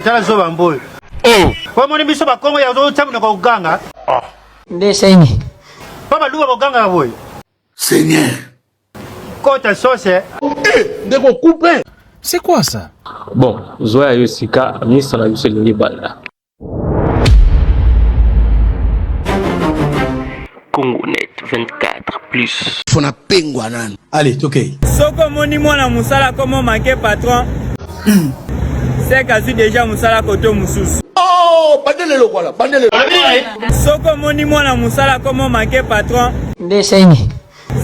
tala zoba mboyo oh. omoni biso bakongo ya ozotya monoko koganga ah. nde sengi mpo baluba bogangaka boye seigneur kota sose eh, ndeko coupe c'est quoi ça bon zwa ya yo sika ministre na biso elingi banda Congonet 24 plus. Fona pengwa nanu. Allez, tokei. Soko moni mwana musala komo manke patron. Hmm. Sek azwi deja musala koto mususu. Oh, bandele lokola, bandele. Soko moni mwana musala komo manke patron. Nde sengi.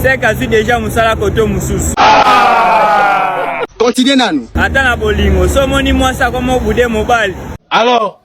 Sek azwi deja musala koto mususu. Ah! Continue nanu. Ata na bolingo, so moni mwasi akomo bude mobali. Alors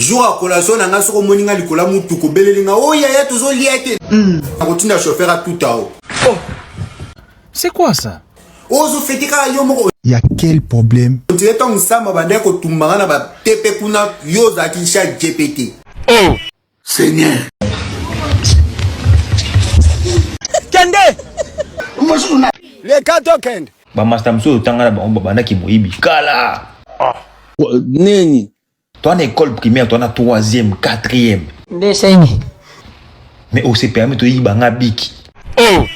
jour ya collation na nga soki omoni nga likolo ya mutuka obeleli nga o oh, yaya tozolia te hmm. akotinda chauffeur atuta o oh. c'est quoi ça ozofete kaka yo moko ya quel problème otile ntango nsamba bandaki kotumba nga na batepe kuna yo ozalaki sha gpt oh seigneur kende leka tokende bamasta mosusu otanga na bango babandaki moyibi kala ah. nini Toi na école primaire, toi na troisième, quatrième. Nde sengi. Mais on se permet de yiba nga biki. Oh!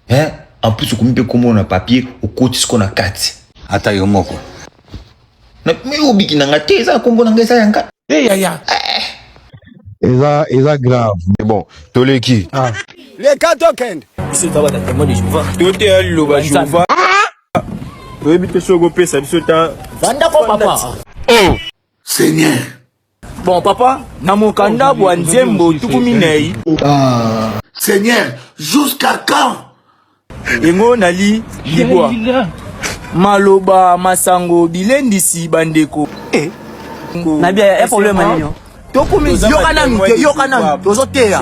Hein? En plus, okomi pe komo na papier, okotisi ko na kati. Ata yo moko. Na mais obiki na nga te, eza kombo na nga eza ya nga. Eh ya ya. Eza eza grave. Mais bon, toleki. Ah. Les quatre token. Ici, tu vas t'attendre de Jéhovah. Tout est à l'eau, Jéhovah. Toyebi te soki okopesa biso ta. Vanda ko papa. Oh. Seigneur. Bon papa, na mokanda bwa nzembo tuku minei. Ah. Seigneur, jusqu'à quand? Yango nali libwa. Maloba masango bilendisi bandeko. Eh. Na bia ya problème nini? Tokomi yoka nanu, yoka nanu, tozoteya.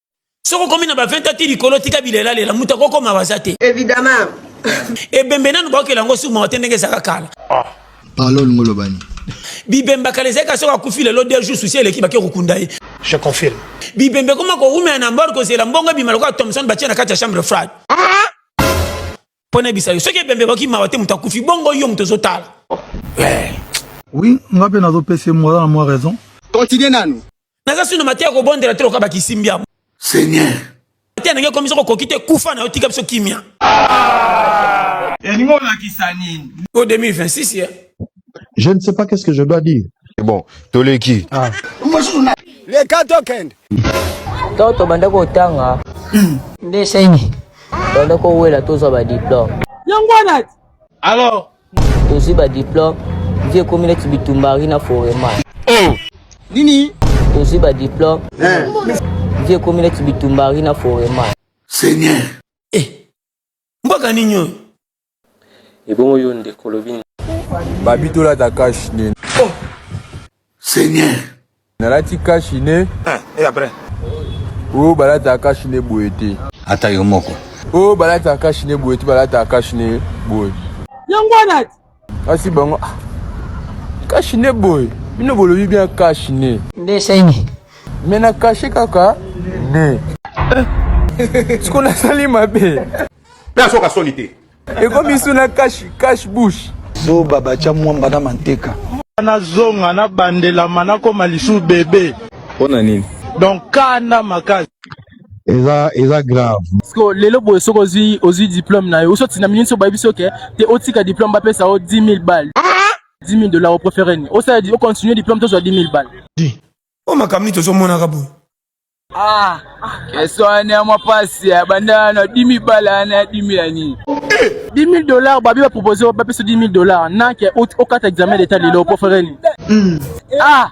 soki okomi na ba 20 ans ti likolo tika bilelalela moto akokoma baza te évidemment ebembe nanu bakela yango suma te ndenge ezalaka kala ah. parlol ngo olobani bibemba kala ezalaki soki akufi lelo deux jours susi eleki bake kokunda ye je confirme bibembe ekoma kowumela na mbor kozela mbongo ebima lokola thomson batie na kati ya chambre frade ah! mpo nayebisa yo soki ebembe ekoki mawa te moto akufi bongo yo moto ozotala eh. oui nga mpe nazopesa ye moza na mwa raison continue nanu naza sino mateya kobondela te lokola bakisimbi yango seigneur mateya ndenge ekomi soko okoki te kufa na yo tika biso kimia elingi olakisa nini o 2026 ye Je ne sais pas qu'est-ce que je dois dire. C'est bon, Toleki. Ah. Les cas token. Toto banda ko tanga. Nde sengi. Banda ko wela tozo ba diplôme. Yango wana. Alors, tozo ba diplôme. Vie komi na tibitumbari na forema. Oh. Nini? Tozo ba diplôme. Eh. Vie komi na tibitumbari na forema. Seigneur. Mbaka nini oyo? Ebongo yo ndeko olobi nini? Babi tolata cash nini? Oh! Seigneur. Nalati cash ne. Ah, et après? Oh, balata cash ne boye te. Ata yo moko. Oh, balata cash ne boye te, balata cash ne boye. Yango wana Kasi bango ah, kashi ne boye bino bolobi bien kashi ne nde esengi me na kashe kaka ne siko nasali mabe mpe asoka soni te ekomi su na kashi kashi bush zoba batya mwamba na manteka nazonga nabandelama nakoma lisusu bebe mpo na nini donc kanda makasi eza eza grave siko lelo boye soki ozwi ozwi diplome na yo usoti na minini so bayebisi oke te otika diplome bapesa yo 10 000 bal 10 000 dollar oprefere ni osala ocontinue diplome tozwa 10 000 bal o makambo nini tozomonaka boye Ah, kesho ana mapasi ya banda na 10000 bala na 10000 ya nini? 10000 dollars babi ba proposer ba pesa 10000 dollars na ke okata examen d'etat lelo pour faire nini? Hmm. Ah,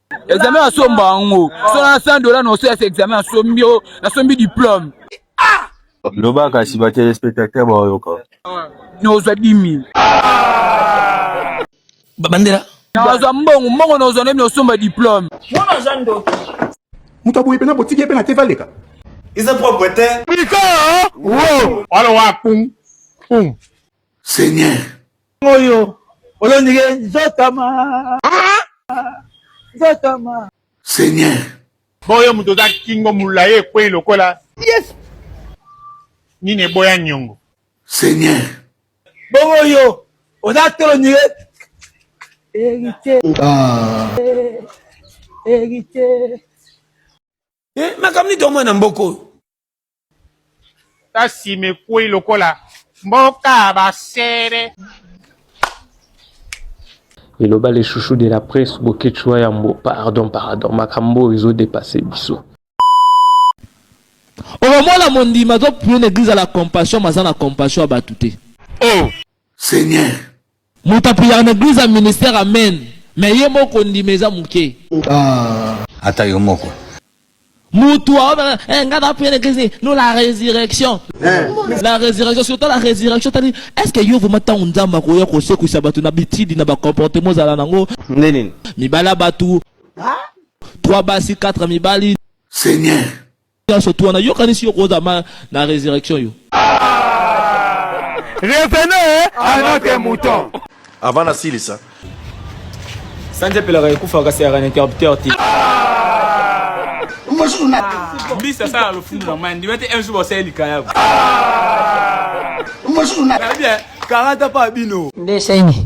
examen asomba yango so na 100 dola na osalisa examen asombi yo nasombi diplome loba kasi batelespectateur baoyoka nozwa 10000 bandela nazwa mbongo mbongo nozwa nemi osomba diplome mwana aza ndoki moto aboye mpena botiki ye mpe na te valeka eza propre te pika wo wana wa pum pum seigneur oyo olondike nzotama nzotama seigneur boyo moto oza kingo molayi ekwei lokola yes nini eboya nyongo seigneur bongo oyo oza tolondike erite ah. erite eh, makambo nini tomona na mboka oyo ta sima ekwei lokola mboka ya basere eloba le chouchou de la presse boketsua yambo pardon pardon makambo oyo ezodepasse biso okomona mondimi azopune na eglise ya la compassion maza na compassion ya bato te oh. seigneur Moto apriaka na eglise ya ministère amen mais ye moko kondima eza muke. Ah. Ata yo moko. Mutu aobela eh nga na prier na eglise nous la résurrection. Eh. La résurrection surtout la résurrection tali est-ce que yo vraiment tango Nzambe akoya kosekwisa bato na bitidi na ba comportement ozala nango? Nde nini? Mibala bato. Trois basi, quatre mibali. Seigneur. Nionso tu wana yokanisi yo koza ma na resurrection yo. Revenez à notre mouton. Avant na silisa. Sanje pelaka ekufa kasi ya interrupteur ti. Mbisa sala lofundu na mandi wete un jour bosali likaya. Mbisa na bia. Karata pa bino. Nde sengi.